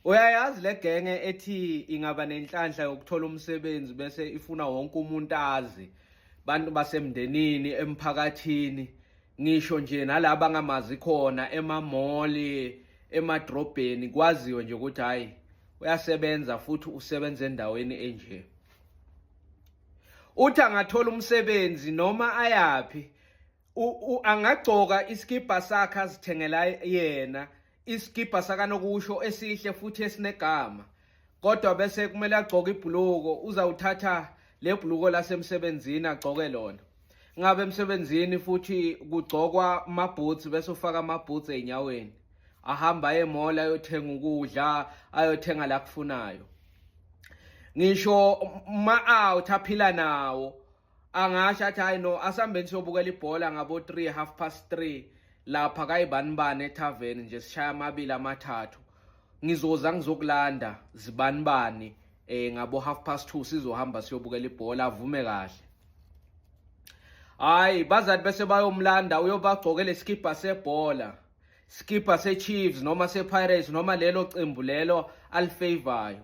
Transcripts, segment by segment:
Uyayazi le genge ethi ingaba nenhlanhla yokuthola umsebenzi bese ifuna wonke umuntu azi bantu basemndenini emphakathini ngisho nje nalabo angamazi khona emamoli emadrobheni kwaziwe nje ukuthi hayi uyasebenza futhi usebenza endaweni enje uthi angathola umsebenzi noma ayaphi angagcoka isikibha sakhe azithengela yena isikibha sakanokusho esihle futhi esinegama kodwa bese kumele agcoke ibhuluko uzawuthatha le bhuluko lasemsebenzini agcoke lona ngabe emsebenzini futhi kugcokwa amabhutsi bese ufaka amabhutsi ey'nyaweni ahamba aye emola ayothenga ukudla ayothenga la kufunayo ngisho ma-out aphila nawo angasho athi hayi no asihambeni siyobukela ibhola ngabo 3 half past 3 lapha kayibanibani ethaveni nje sishaya amabili amathathu ngizoza ngizokulanda zibanibani eh ngabo half past 2 sizohamba siyobukela ibhola avume kahle hayi bazali bese bayomlanda uyobagcokela isikibha sebhola skipper seChiefs noma sePirates noma lelo qembu lelo alifavorayo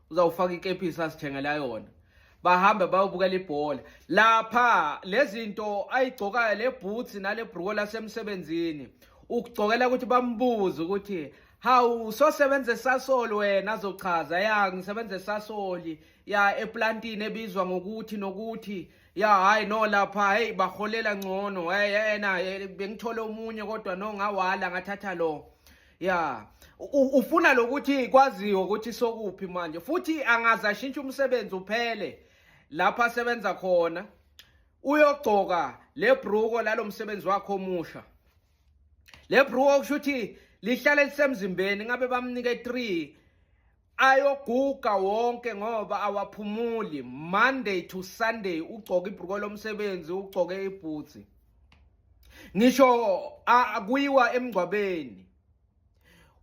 uzawufaka ikepisi asithengela yona bahambe bayobukela ibhola lapha lezinto ayigcokayo le boots nale bhruko lasemsebenzini ukugcokela ukuthi bambuze ukuthi hawu sosebenza esasoli wena azochaza ya ngisebenza esasoli ya eplantini ebizwa ngokuthi nokuthi ya hayi no lapha hey baholela ngcono hey yena bengithole omunye kodwa no ngawala ngathatha lo ya ufuna lokuthi kwaziwe ukuthi sokuphi manje futhi angaze ashintshe umsebenzi uphele lapho asebenza khona uyogcoka le bruko lalo msebenzi wakhe omusha le bruko kusho ukuthi lihlale lisemzimbeni ngabe bamnike 3 ayoguga wonke ngoba awaphumuli monday to sunday ugcoka ibhruko lomsebenzi ugcoke ibhutsi ngisho akuyiwa emngcwabeni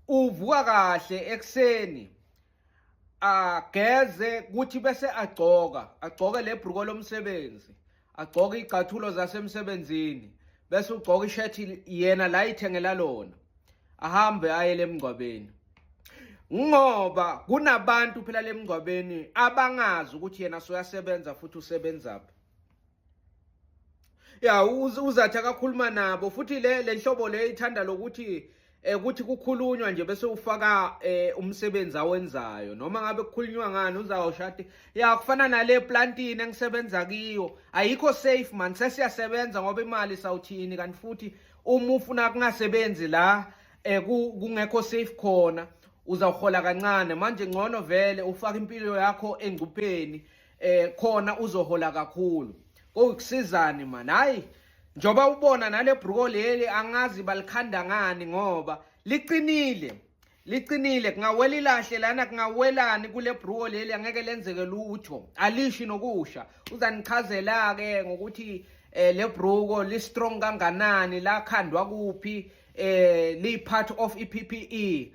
uvuka kahle ekuseni ageze kuthi bese agcoka agcoke lebhruko lomsebenzi agcoke igcathulo zasemsebenzini bese ugcoka ishethi yena la ithengela lona ahambe aye lemngcwabeni ngoba kunabantu phela lemngcwabeni abangazi ukuthi yena soyasebenza futhi usebenzaphi ya uzathi akakhuluma nabo futhi le lenhlobo le ithanda lokuthi eh ukuthi kukhulunywa nje bese ufaka eh umsebenzi awenzayo noma ngabe kukhulunywa ngani uzawushati ya kufana nale plantini engisebenza kiyo ayikho safe man sesiyasebenza ngoba imali sawuthini kanti futhi uma ufuna kungasebenzi la eh kungekho safe khona uzawuhola kancane manje ngcono vele ufaka impilo yakho engcupheni eh khona uzohola kakhulu kokusizani man hayi Njoba ubona nale bruko leli angazi balikhanda ngani ngoba liqinile. Liqinile kungawela ilahle lana kungawelani kule bruko leli angeke lenzeke lutho. Alishi nokusha. Uzanichazela ke ngokuthi eh le bruko li strong kanganani la khandwa kuphi eh li part of iPPE.